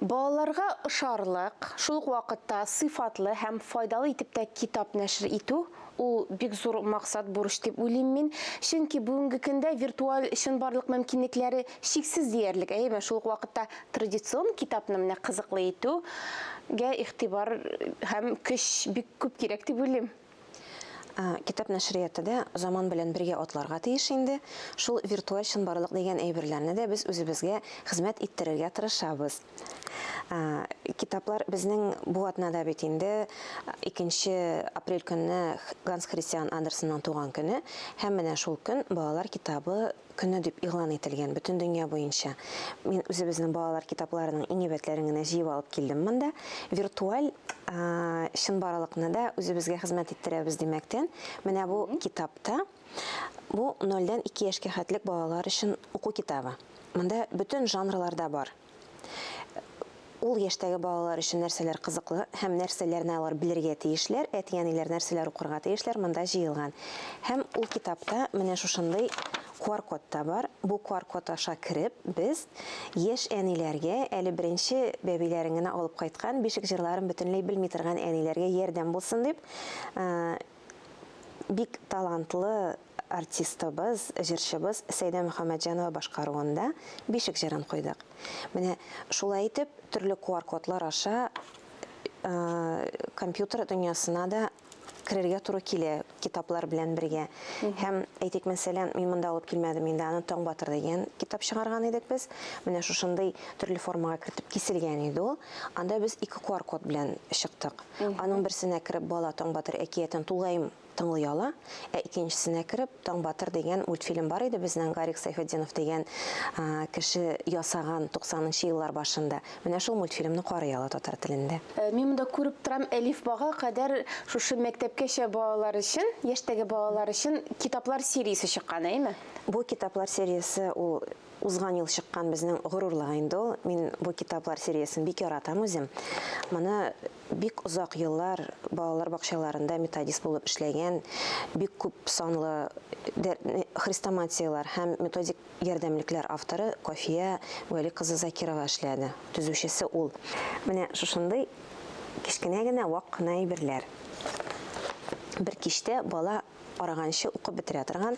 Балаларга ошарлык, шул ук вакытта сыйфатлы һәм файдалы итеп тә китап нәшер итү, ул бик зур максат, бурыч дип уйлыйм мин. Чөнки бүгенге көндә виртуаль чынбарлык мөмкинлекләре чиксез диярлек, әйеме? Шул ук вакытта традицион китапны менә кызыклы итү гә игътибар һәм көч бик күп кирәк дип уйлыйм. Китап нәшрияты да заман белән бергә атларга тиеш инде. Шул виртуаль чынбарлык дигән әйберләрне дә без үзебезгә хезмәт иттерергә тырышабыз. Китаплар безнең бу атнада бит инде икенче апрель көнне Ганс Христиан Андерсонның туган көне, һәм менә шул көн балалар китабы көне дип игълан ителгән бөтен дөнья буенча. Мин үзебезнең балалар китапларының иң әйбәтләрен генә җыеп алып килдем монда. Виртуаль чынбарлыкны да үзебезгә хезмәт иттерәбез димәктән, менә бу китапта бу 0 дән 2 яшькә хәтлек балалар өчен уку китабы. Монда бөтен жанрларда бар. Ул яшьтәге балалар өчен нәрсәләр кызыклы һәм нәрсәләрне алар белергә тиешләр, әти-әниләр нәрсәләр укырга тиешләр, монда җыелган. Һәм ул китапта менә шушындый QR-код та бар. Бу QR-код аша кереп, без яшь әниләргә, әле беренче бәбиләрен генә алып кайткан, бишек җырларын бөтенләй белми торган әниләргә ярдәм булсын дип, бик талантлы Артистыбыз, җырчыбыз Сәйдә Мөхәммәтҗанова башкаруында Бишек җырын куйдык. Менә шулай итеп, төрле QR-кодлар аша компьютер дөньясына да керергә туры килә китаплар белән бергә. Һәм әйтик, мәсәлән, мин монда алып килмәдем инде, аны Таң батыр дигән китап чыгарган идек без. Менә шушындый төрле формага кертеп киселгән иде ул. Анда без ике QR-код белән чыктык. Аның берсенә кереп бала Таң батыр әкиятен тулаем тыңлый ала, ә икенчесенә кереп Таң батыр дигән мультфильм бар иде безнең Гарик Сайфетдинов дигән кеше ясаган 90 нчы еллар башында. Менә шул мультфильмны карый ала татар телендә. Э, мин монда күреп торам, әлифбага кадәр шушы мәктәпкәчә балалар өчен, яшьтәге балалар өчен китаплар сериясе чыккан, әйме? Бу китаплар сериясе ул Узган ел чыккан безнең горурлык инде ул. Мин бу китаплар сериясен бик яратам үзем. Моны бик озак еллар балалар бакчаларында методист булып эшләгән, бик күп санлы хрестоматияләр һәм методик ярдәмлекләр авторы Кафия Вәли кызы Закирова эшләде. Төзүчесе ул. Менә шушындый кечкенә генә вак кына әйберләр бер кичтә бала караганчы укып бетерә торган,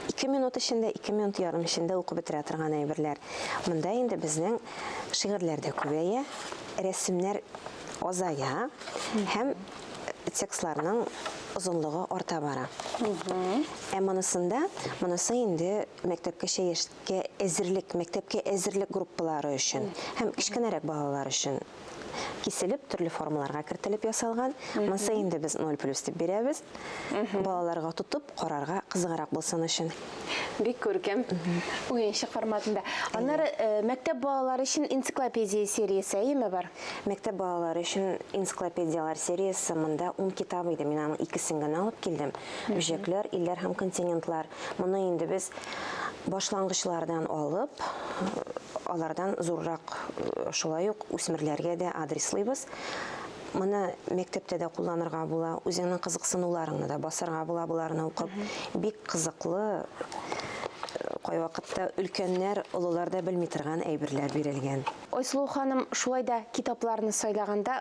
ике минут эчендә, ике минут ярым эчендә укып бетерә торган әйберләр. Монда инде безнең шигырьләр дә күбәя, рәсемнәр азая һәм текстларның озынлыгы арта бара. Ә монысында, монысы инде мәктәпкәчә яшькә әзерлек, мәктәпкә әзерлек группалары өчен һәм кечкенәрәк балалар өчен киселеп, төрле формаларга кертелеп ясалган. Монсы инде без 0 плюс дип бирәбез. Балаларга тотып карарга кызыграк булсын өчен. Бик күркәм. Уенчык форматында. Аннары э, мәктәп балалары өчен энциклопедия сериясе әйеме бар? Мәктәп балалары өчен энциклопедиялар сериясе монда 10 китап иде. Мин аның икесен генә алып килдем. Үҗәкләр, илләр һәм континентлар. Моны инде без башлангычлардан алып, алардан зуррак шулай ук үсмерләргә дә адреслыйбыз. Моны мәктәптә дә кулланырга була, үзеңнең кызыксынуларыңны да басарга була боларны укып. Бик кызыклы кайвакытта өлкәннәр, олылар да белми торган әйберләр бирелгән. Айсылу ханым, шулай да китапларны сайлаганда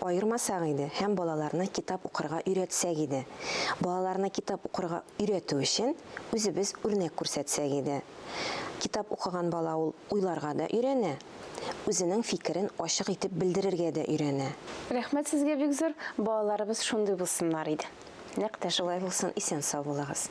аермасак иде һәм балаларны китап укырга өйрәтсәк иде. Балаларны китап укырга өйрәтү өчен үзебез үрнәк күрсәтсәк иде. Китап укыган бала ул уйларга да өйрәнә, үзенең фикерен ачык итеп белдерергә дә өйрәнә. Рәхмәт сезгә бик зур, балаларыбыз шундый булсыннар иде. Нәкъ тә шулай булсын, исән-сау булыгыз.